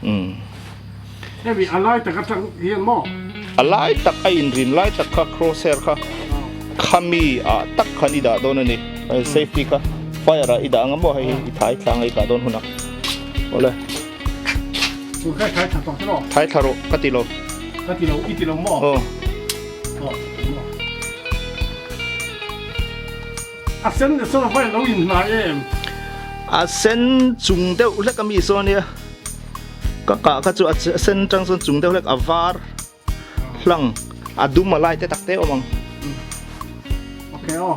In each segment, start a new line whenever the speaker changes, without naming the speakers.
um hemi a lai tak atang hian maw a lai tak a in rin lai tak kha cross hair kha khami ah tak khan i dah dawn a ni safety kha fire ah i dah anga maw hei hi i thlai thlanga i tah dawn hunah awle chu khai khai tha tawh tawh khai thla rawh ka ti lo ka ti lo i ti lo maw oh A sen leh sofa hi a lo inhnai em. A sen chung deuh hlek a mi saw nia. Ka kah kha chu a sen chang sawn chung deuh hlek a var hlang a dum a light te tak te awm ang. Okay aw.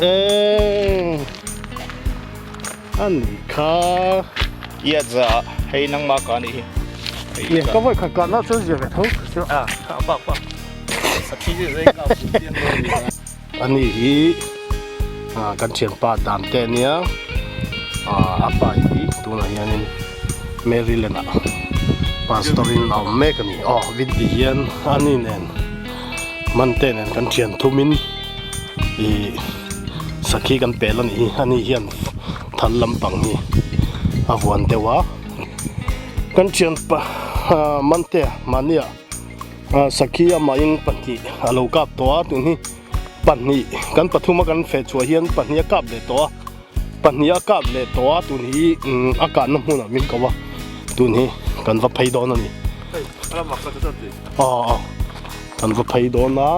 Eng ani kha ia za hei nang ma ka ni hi ka voi khat tlan na chu zia ve tho chu a kha pa pa sa thi zia zai ka pu tiang lo ni ani hi a kan thian pa dan te nia a apa hi tunah hian in maryland a pastor in a awm mek ani aw vinti hian ani nen man te nen kan thian thum in ihh sakhi kan peh la nih hi ani hian thal lampang hi a vuan deuh a kan thian pa aaa mante mahniah aaa sakhi amah in pahnih a lo kap tawh a tun hi pahnih kan pathuma kan feh chhuah hian pahnih a kap leh tawh a. Pahnih a kap leh tawh a tun hi a kahna hmun ah min koh a tun hi kan va phei dawn a ni aw kan va phei dawn a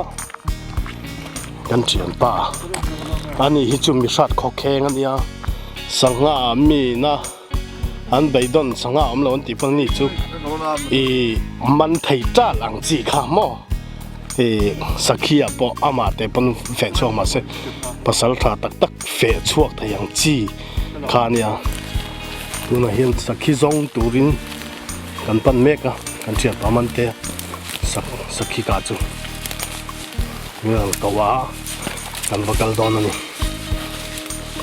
kan thian ta a anih hi chu mi hrat khawkheng a nia sangha ah mi na. An bei dawn sangha awm lo an tih pawh ni chu i man thei tlat ang chi kha maw i sakhi ah pawh amah te pawn feh chhuak mah se pasal tha tak tak feh chhuak thei ang chi kha a nia tunah hian sakhi zawng turin kan pan mek a kan thianpa man te sak sakhi kah chu. Miral ko a kan va kal dawn a ni.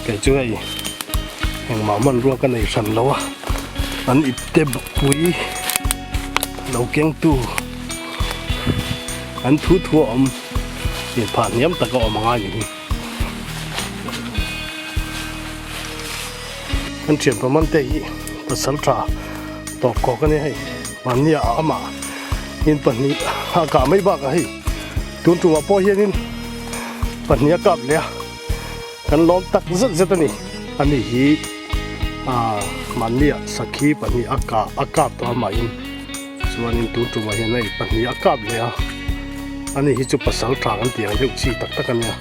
Kei chu hei engmah hmanrua ka nei hran lo a, an ipte bawkpui lo kengtu an thuthu a awm inphah hniam tak a awm a ngai ni hi. Kan thianpa mante hi pasal tha tawk kawk ania hei mahnia a amah in pahnih a kah mai bakah hei tun tumah pawh hianin pahnih a kap leh a kan lawm tak zet zet a ni ani hi a mahnia sakhi pahnih a kah a kap tawh amahin. Chuanin tun tumah hian hei pahnih a kap leh a, a ni hi chu pasal tlang an tih ang deuh chi tak tak a nia.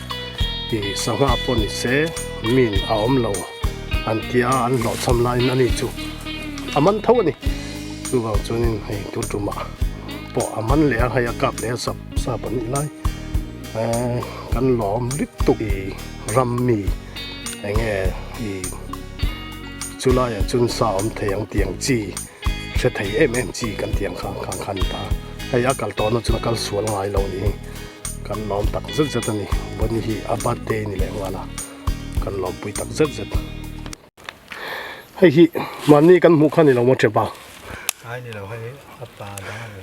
I sangha pawh ni se min a awm lo an ti a, an hlawhchham laiin a ni chu a man tho a ni. Chuvang chuanin hei tun tumah pawh a man leh a, hei a kap leh a sap sap a nih lai. Eee kan lawm dik tuk i ram mi eng nge i chu laiah chuan sa awm thei ang tih ang chi. Hre thei em em chi kan tih ang kha khang khan ni ta a, hei a kal tawhna chuan a kal sual ngai lo ni hi kan lawm tak zet zet a ni, Bonnie hi a birthday ni leh nghal a kan lawmpui tak zet zet. Hei hi mahni kan hmuh kha ni lo maw Chepa? Ai ni lo hei hi a pa dang a ni.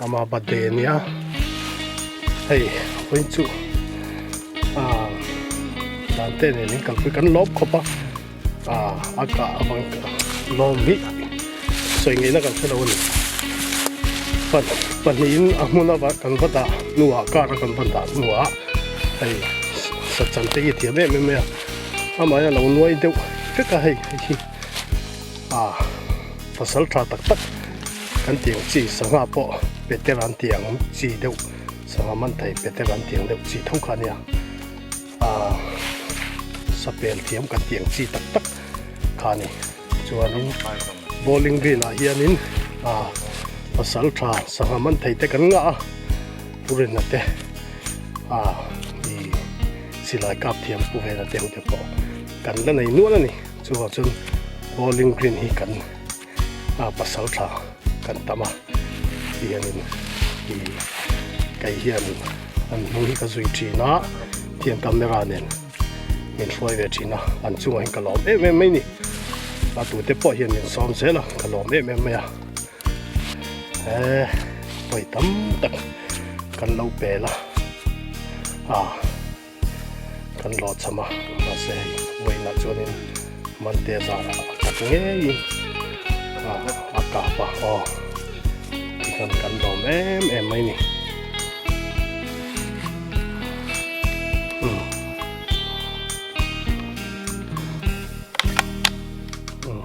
Ama birthday a nia hei apui chu ah dan te nen in kalpui kan lawm khawp a ah a kah avang lawm vih sawi ngei na kan hre lo a ni pa pahnih in a hmun a kan va dah hnuah car a kan va dah hnuah hei sachan te hi a thiam em em mai a amah hi a lo nuai deuh vek a hei hi ah Fasal tha tak tak kan tih ang chi sangha pawh petel an tih ang chi deuh sangha man thei petel an tih ang deuh chi tho kha nia a sapel thiam kan tih ang chi tak tak kha ni chuanin bowling green ah hianin a fasal tha sangha man thei te kan nga a purin ate a i silai kap thiam pu vel ate hute pawh kan la nei nual ani Chuvang chuan bowling green hi kan a pasal thla kan tam a tih a ni. Kei hian an hnung hi ka zui thin a, hetiang camera nen min hruai ve thin a, an chungah hian ka lawm em em mai ni. A tute pawh hian min sawm zel a, ka lawm em em mai a. Eh, pawi tam tak kan lo pel a. Ah. kan lo cham a mahse hei vawiinah chuanin mante zara a tak ngeiin a kap a aw ti khan kan lawm em em mai ni umm umm.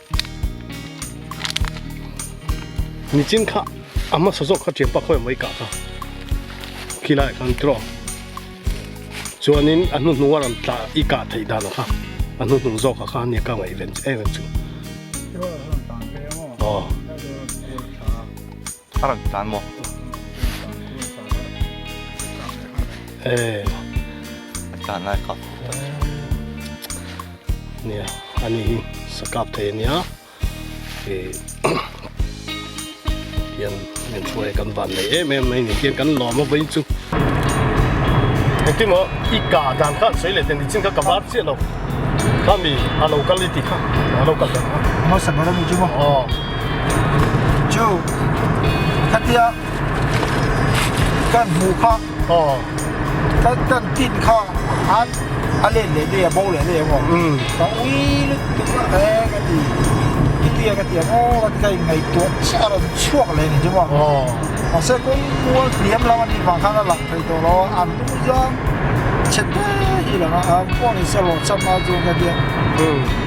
ni chin kha a hmasa zawk kha thiam pakhaw mai kah kha khi lai khan draw chuanin a hnu hnung a rawn tla i kah theih dan kha a hnu hnung zawk kha nia ka ngaih ve em chu aw A rawn tlan maw? A tlan lai kha. Nia, a ni hi sakap thei a nia. Hian heng thu hi kan van nei em em mai ni hian kan lawm avei chu. Engtin maw i ka dan khan sawi leh teh ni chin kha ka var chiah lo. Khami a lo kal i ti kha, a lo kal dan kha. Maw sangha rawh ni chu maw? Aw. chu khatia kan hmu kha aw kan kan tin kha an a len leh mai a bo leh mai emaw ka ui lut tuk a he ka ti khitiah ka tiang aw ka ti kha in ngaihtuah chiah a rawn chhuak leh ni chu maw aw mahse kawng mual hliam lam anih vang khan a lang thei tawh lo a an tum zang chhe te hi lo a phone in se rawh chap mai a chuan ka ti a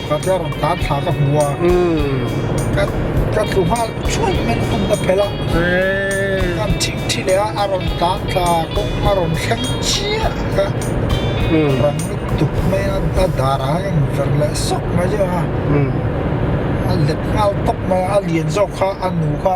Ka tlar dan thla ka hmu a, ka ka tlu nghal thuai mai lutuk ka phelh a, kan thik thi leh a, a rawn dan thla kawng a rawn thleng chiah ka rang lutuk mai a, a darah hian a inver leh sawk mai zeuh a, a let nghal tawk mai a, a lian zawk kha a nu kha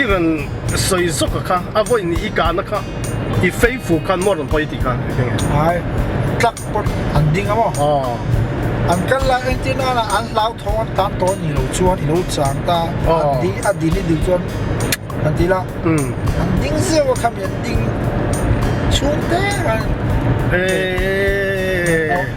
i rawn sawi zawk a kha a vawi nih i kahna kha i fei fu khan maw a rawn hawi tih kha a keng e. Ai tlak pawt an ding a maw? Aw. An kal lai engtin nana an hlauthawng an tam tawh a nih loh chuan i lo chang ta a an ding a dil hi dil chuan kan ti la an ding zeuh a kha mi an ding chhungte khan. Eeii.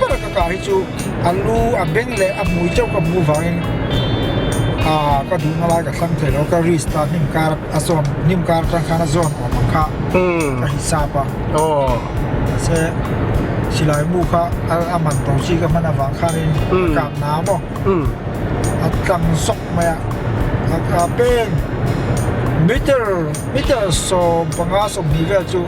ber ka kah hi chu a lu a beng leh a hmui chauh ka hmu vangin ah ka duh na lai ka thlang thei lo ka restart hnim kar a zawn hnim kar atang khan a zawn awm ang kha ka hisap a mahse silai bu kha a man tawh chi ka hman avang khanin ka kap na maw a tlang zawk mai a a peng meter meter sawm panga sawm hnih vel chu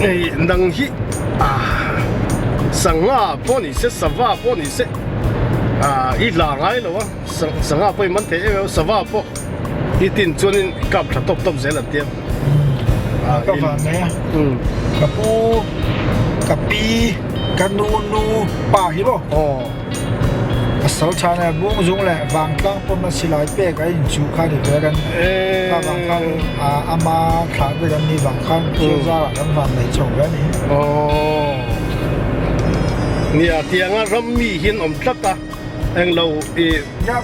Hei nang hi sangha pawh ni se sava pawh ni se i hla ngai lo a sangha pawh i man thei em em a sava pawh i tin chuan in i kap tha tawp tawp zel an tia a ka van mai a ka pu ka pi ka nunu pa hi maw aw a sal chhan a bung zung leh vang tlang pawm a silai pek a in chuh kha ni ve kan ti a vang khan a ama thla ber an ni vang khan thil zar ah kan van nei chho ve ani aww ni a tiang a ram mi hi an awm tlat a heng lo i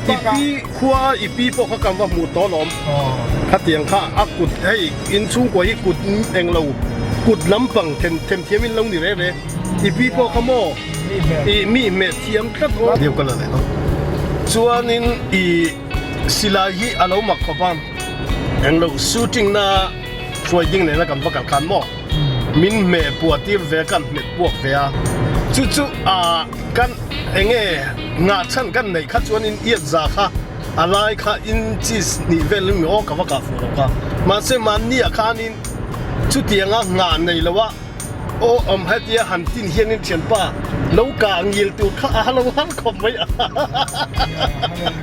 ipi khua a ipi pawh kha kan va hmu tawn awm khatiang kha a kut hei inchhung kua hi kut englo kut lampang themthiam in lo ni rere. I pi pawh ka maw? I mi hmet thiam tlat aw. Deuh ka la leh lo. Chuanin i silai hi a lo mak khawp a, englo shooting na hruai ding nena kan va kal khan maw? Min hme puahtir ve kan hmet puak ve a, chu chu a kan eng nge ngah chhan kan neih kha chuanin iat za kha a lai kha in chis nih vel in maw ka va kah fuh lo ka. Mahse mahni ah khanin chutianga ngah nei loh a. Aw awm hetia han tin hianin thianpa lo ka ngil tur kha a halo har khawp mai a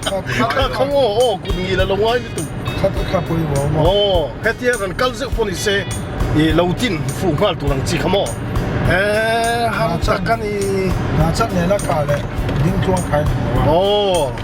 kha kha khawng aw aw kut ngil a lo ngai lutuk kha kha kha pawh i vawm maw aw hetia kan kal zeuh pawh ni se i lo tin fuh nghal tur ang chi kha maw e hang tak a ni hna chak nena ka leh dingtluang kha i hmu lo a aw.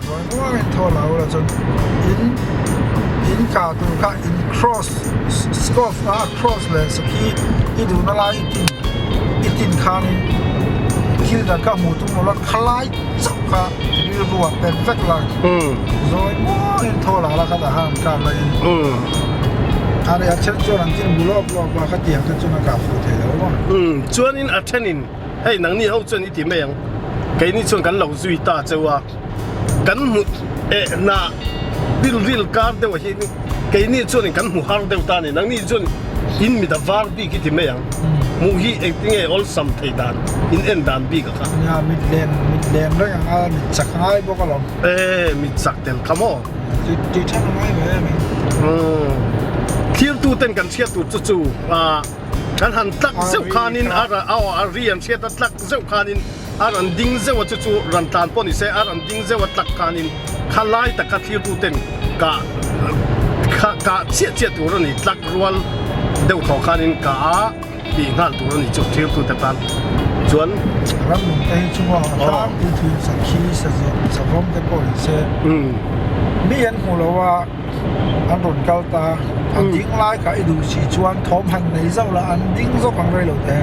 Ruai ruai in thaw lah ula chuan in in kah tur kha in cross scoff a cross leh sakhi i duhna lai i tin i tin khanin thil dan kha hmuh tur awm lo khalai chauh kha rilru ah pet vek la zawi mual in thaw lah ula khat a han kap la in a ria then chuan an tin bu lawk lawk a khatiang te chuan a kah fuh theilo chuan in a then in. Hei nangni ho chuan i ti mai ang, keini chuan kan lo zui ta cheu a, kan hmuh eh hna rilril kar deuh ah hian in keini chuan in kan hmu har deuh ta a ni. Nangni chuan in mit a var bik i ti mai ang, hmuh hi engtin nge awlsam thei dan in en dan bik a kha. Nia mitlen mitlen reng anga mit chak a ngai bawk alawm. E, mit chak tel kha maw? Tui tui than a ngai ve em in. Umm thlir tuten kan chhiat tur chu chu a. Kan han tlak zeuh khanin a ra aw a ri an hriat a tlak zeuh khanin a ran ding zeuh a chu chu ran tlan pawh ni se a ran ding zeuh a tlak khanin kha lai taka thlitu ten kah kha kah chiah chiah tur a ni tlak rual deuh thawh khanin kah a ti nghal tur a ni chu thlitu te tan chuan ram lung te hi chunga a tlak puitling sakhi sazawm savawm te pawh ni se umm mi an hmu lo a. an rawn kal ta a an ding lai kha i duh si chuan thawm han nei zauh la an ding zawk ang rei lo teh.